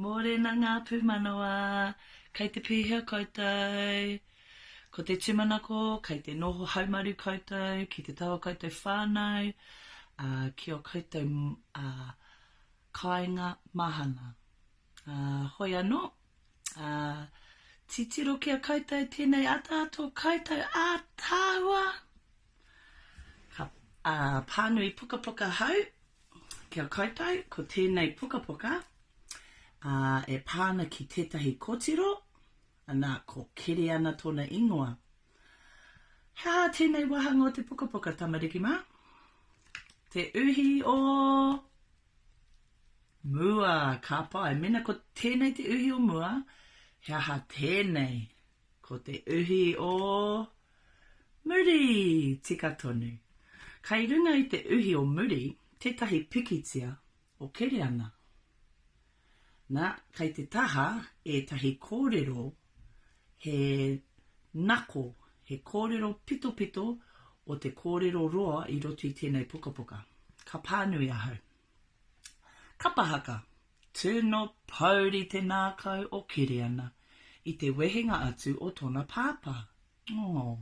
Mōrena ngā pūmanawa, kei te pēhea koutou? Ko te tūmanako, kei te noho haumaru koutou ki te taha o koutou whānau, ā, ki ō koutou, ā, kāinga mahana. Ā, hoi anō, Ā, titiro ki a koutou tēnei ataata o koutou ātaahua, ka, ā, pānui pukapuka hau ki a koutou, ko tēnei pukapuka, ā, e pā ana ki tētahi kotiro, anā, ko Keriana tōna ingoa. He aha tēnei wāhanga o te pukapuka, tamariki mā? Te uhi o Mua, ka pai. Mēnā ko tēnei te uhi o mua, he aha tēnei? Ko te uhi o muri! Tika tonu. Kai runga i te uhi o muri tētahi pikitia o Kereana. Na, kei te taha ētahi kōrero he nako, he kōrero pitopito o te kōrero roa i roto i tēnei pukapuka. Ka pānui ahau. Kapa haka, Tino pouri te nākau o Kiriana i te wehenga atu o tona pāpā, Oh.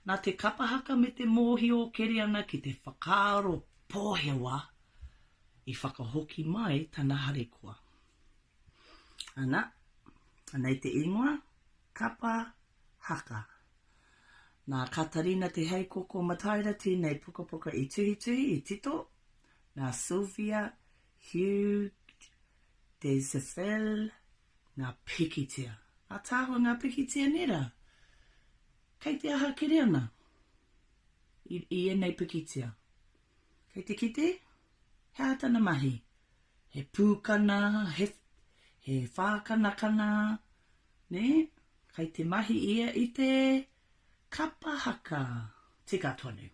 Nā te kapahaka me te mōhio o Keriana ki te whakaaro pōhewa i whakahoki mai tana harikoa. Ana, anei te ingoa, Kapa Haka. Nā Katarina Te Heikoko Mataira tēnei pukapuka i tuhituhi, i tito, nā Sylvia Hugues Desaffel Ngā pikitia. Ataahua ngā pikitia nē rā. Kei te aha kere ana i, i ēnei pikitia? Kei te kite? He aha tana mahi? He pūkana, he, he whākanakana, nē? Kei te mahi ia i te kapa haka. Tika tonu.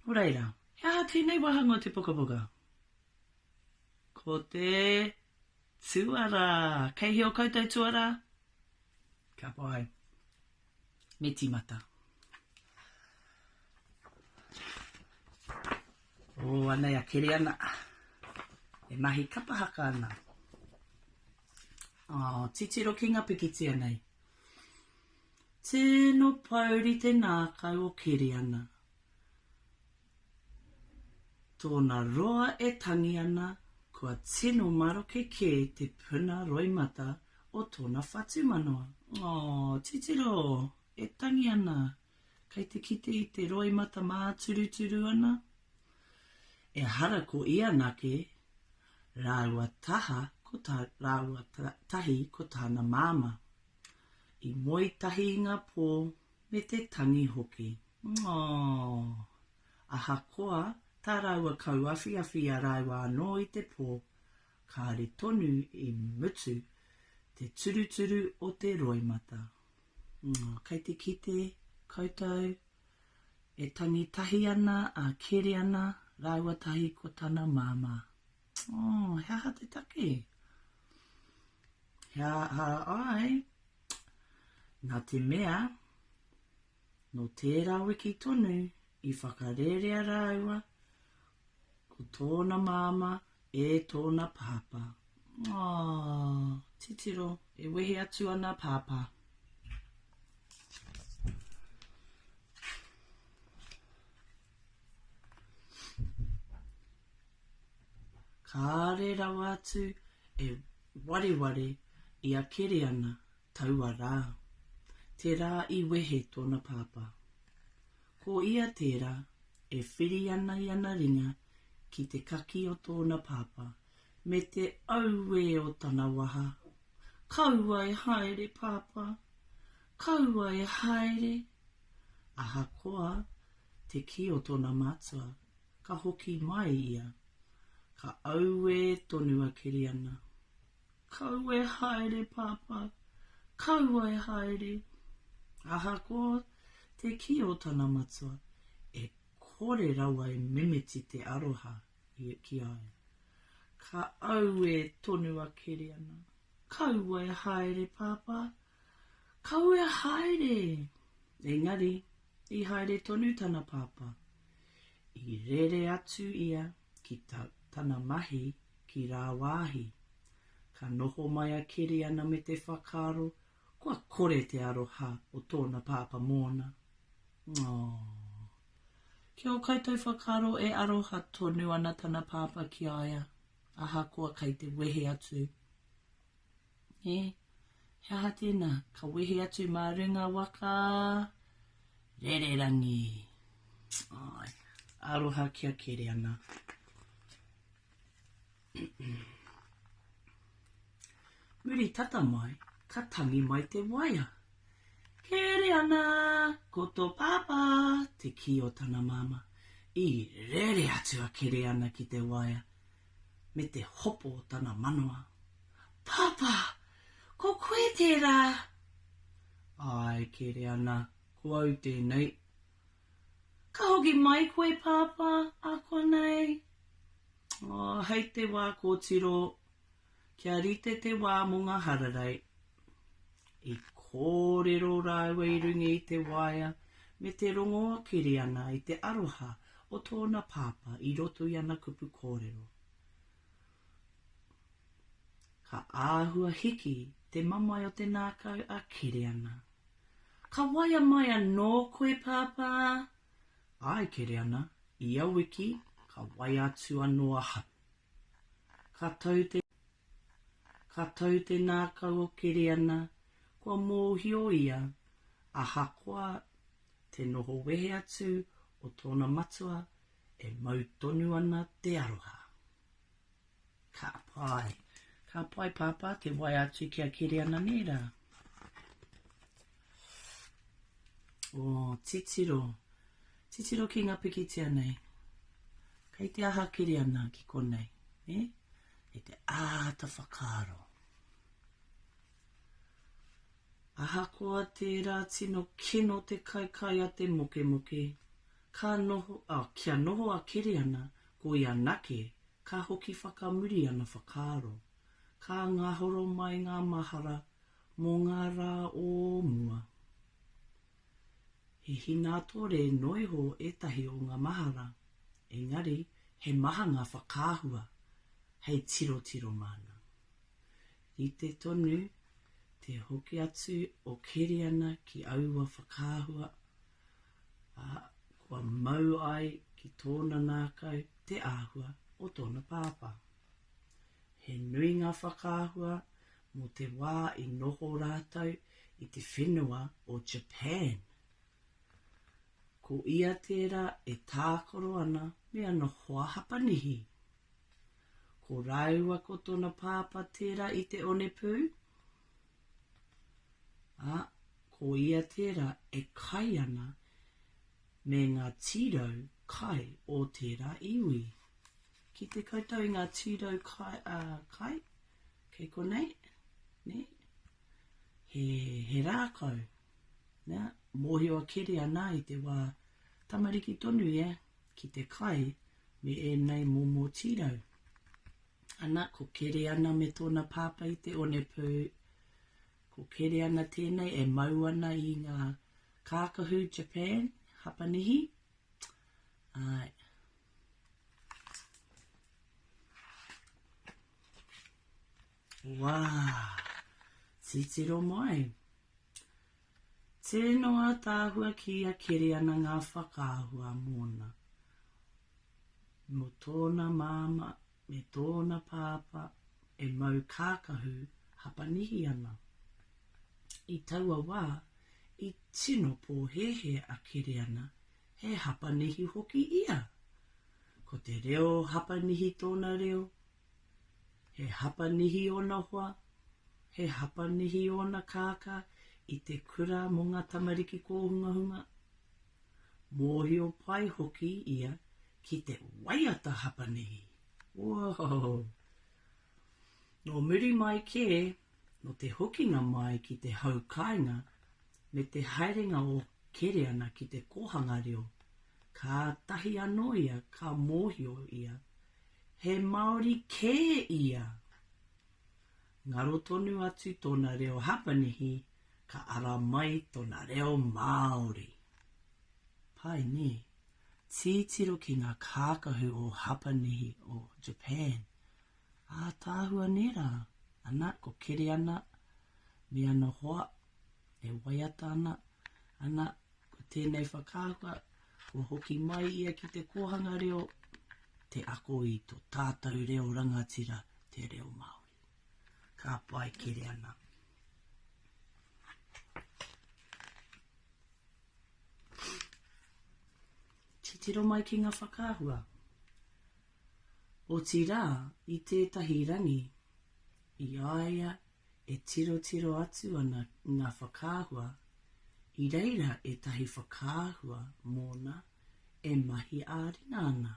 Nō reira, he aha tēnei wāhanga o te pukapuka? Ko te Tuara! Kei hea o koutou tuara? Ka pai. Me timata. Oh, anei a Kereana. E mahi kapa haka ana. Oh, titiro ki nga pikitia nei. Tino pouri te nakau o Kereana. Tōna roa e tangi ana, kua tino maroke kē te puna roimata o tōna whatumanawa. Oh, titiro, e tangi ana, kei te kite i te roimata māturuturu ana. Ehara ko ia anake, rāua taha ko tā, rāua tahi ko tāna māmā. I moe tahi i ngā pō, me te tangi hoki. Aww! Ahakoa tā rāua kauawhiawhi i a rāua anō i te pō, kāore tonu i mutu te turuturu o te roimata. Aww, kei te kite koutou e tangi tahi ana a Kereana rāua tahi ko tana māmā. Aww, he aha te take? He aha ai Nā te mea, nō tērā wiki tonu i whakarērea rāua ko tōna māmā e tōna pāpā. Oh, titiro, e wehe atu ana pāpā. Kāre rawa atu e wareware i a Kereana taua rā, te rā i wehe tōna pāpā. Ko ia tērā e whiri ana i ana ringa ki te kaki o tōna pāpā me te auē o tana waha, Kaua e haere, pāpā! Kaua e haere! Ahakoa te kī o tōna matua, ka hoki mai ia. Ka auē tonu a Kiriana. Kaua e haere, Pāpā! Kaua e haere! Ahakoa te kī o tana matua, e kore rawa e mimiti te aroha ki a ia. Ka auē tonu a Kiriana. Kaua e haere, Pāpā! Kawea haere! Engari, i haere tonu tana pāpā. I rere atu ia ki ta, tana mahi ki rāwāhi. Ka noho mai a Keriana me te whakaaro kua kore te aroha o tōna pāpā mōna. Aww! Ki ō koutou whakaaro e aroha tonu ana tana pāpā ki a ia, ahakoa kei te wehe atu? Nē, he aha tēnā? Ka wehe atu mā runga waka rererangi. Ai, aroha kia kere ana. Muri tata mai, ka tangi mai te waea. Kere ana, ko tō pāpā, te kī o tana māmā. I rere atu a Kereana ki te waea. me te hopo o tana manawa. Pāpā, ko koe tērā? Āe, kere ana, ko au tēnei. Ka hoki mai koe, Pāpā, ākonei? Oh, hei te wā kōtiro, kia rite te wā mō ngā hararei. I kōrero rāua i runga i te waea me te rongoa Kiriana i te aroha o tōna pāpā i roto i ana kupu kōrero. Ka āhua hiki te mamae o te nākau a Kiriana. Ka waea mai anō koe, Pāpā? Āe, Kiriana, ia wiki ka waea atu anō ahau. Ka tau te. Ka tau te nākau o Keriana, kua mōhio ia, ahakoa te noho wehe atu o tōna matua, e mau tonu ana te aroha. Ka pai. Ka pai, Pāpā, te wai atu ki a Keriana, nē rā? Oh, titiro. Titiro ki nga pikitia nei. Kei te aha kere ana ki konei. E? Kei te āta whakaaro. Ahakoa tērā tino kino te kaikai a te mokemoke, ka noho, oh, kia noho a kere ana, ko ia nake, ka hoki whakamuri ana whakaaro. Ka ngahoro mai ngā mahara mō ngā rā o mua. He hinātore noa iho ētahi o ngā mahara, engari he maha ngā whakaahua hei tirotiro māna. Rite tonu te hoki atu o Keriana ki aua whakaahua, ā, kua mau ai ki tōna ngākau te āhua o tōna pāpā. He nui ngā whakaahua mō te wā i noho rātou i te whenua o Japan. Ko ia tērā e tākaro ana me ana hoa Hapanihi. Ko rāua ko tōna pāpā tērā i te onepū, ā, ko ia tērā e kai ana me ngā tīrau kai o tērā iwi. Kite koutou i ngā tīrau kai, ā, kai, kei konei, nē, he, he rākau, nā, mōhio a Keri anā i te wā tamariki tonu ia ki te kai me ēnei momo tīrau. Ana, ko Keri ana me tōna pāpā i te onepū, ko Keri ana tēnei e mau ana i ngā kākahu Japan, Hapanihi, ā, Wā, titiro mai. Tēnō ātaahua ki ia keri ana ngā whakaahua mōna. Mō tōna māmā me tōna pāpā e mau kākahu Hapanihi ana. I taua wā, i tino pōhēhē a Keriana He Hapanihi hoki ia. Ko te reo Hapanihi tōna reo. He Hapanihi ōna hoa, he Hapanihi ōna kākā i te kura mō ngā tamariki kōhungahunga. Mōhio pai hoki ia ki te waiata Hapanihi. Woohoo! Nō muri mai kē, nō te hokinga mai ki te hau kāinga me te haerenga o Kereana ki te kōhanga reo, kātahi anō ia ka mōhio ia he Māori kē ia! Ngaro tonu atu tōna reo Hapanihi, ka ara mai tōna reo Māori. Pai nē? Titiro ki ngā kākahu o Hapanihi o Japan, Ātaahua nei rā, ana, ko Kereana me ana hoa e waiata ana, ana, ko tēnei whakaahua, kua hoki mai ia ki te kōhanga reo, te ako i tō tātou reo rangatira, te reo Māori. Ka pai, Kereana. Titiro mai ki ngā whakaahua. Otirā, i tētahi rangi, i a ia e tirotiro atu ana ngā whakaahua, i reira ētahi whakaahua mōna e mahi ā-ringa ana,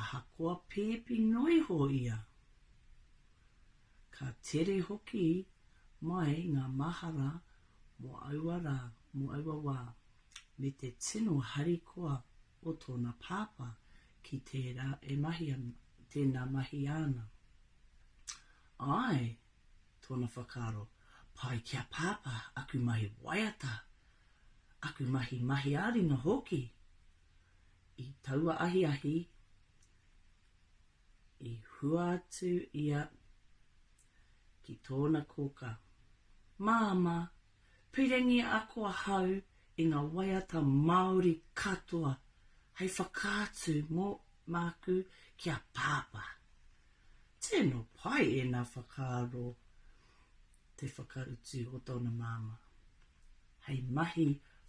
ahakoa pēpi noa iho ia. Ka tere hoki mai ngā mahara mō aua rā, mō aua wā, me te tino harikoa o tōna pāpā Ki tērā e mahi ana, tēnā mahi āna. Āe, tōna whakaaro, pai ki a Pāpā aku mahi waiata, aku mahi mahi ā-ringa hoki. I taua ahiahi, i hua atu ia ki tōna kōkā, Māmā, Piringi ako ahau i ngā waiata Māori katoa hei whakaatu mō māku ki a Pāpā. Tino pai ēnā whakaaro te whakautu o tōna māmā hei mahi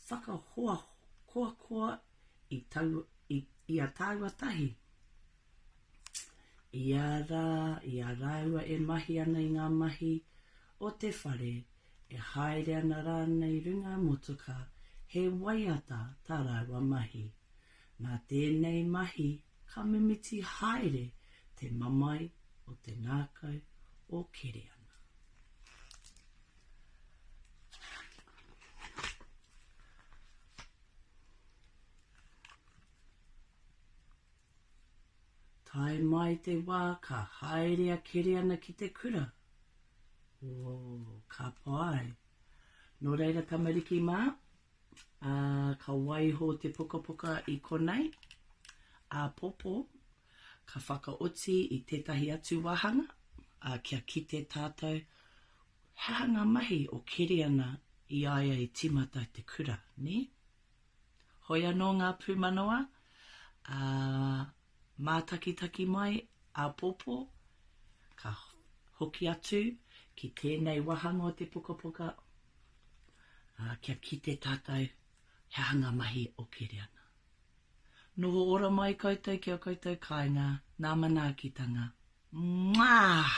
whakahoahoakoa i a tāua tahi ia rā, i a rāua e mahi ana i ngā mahi o te whare, e haere ana rānei runga motoka, he waiata tā rāua mahi. Nā tēnei mahi ka mimiti haere te mamae o te ngākau o Kereana. Tae mai te wā ka haere a Keriana ki te kura. Ooh, ka pai. Nō reira tamariki mā, ā, ka waiho te pukapuka i konei, āpōpō, ka whakaoti i tētahi atu wāhanga, ā, kia kite tātou, he aha ngā mahi o Keriana i a ia i tīmata te kura, nē? Hoi anō ngā pūmanawa, ā, mātakitaki mai āpōpō, ka hoki atu ki tēnei wāhanga o te pukapuka, ā, kia kite tātou he aha ngā mahi o keri ana. Noho ora mai koutou ki ō koutou kāinga, nā manaakitanga. Mwah!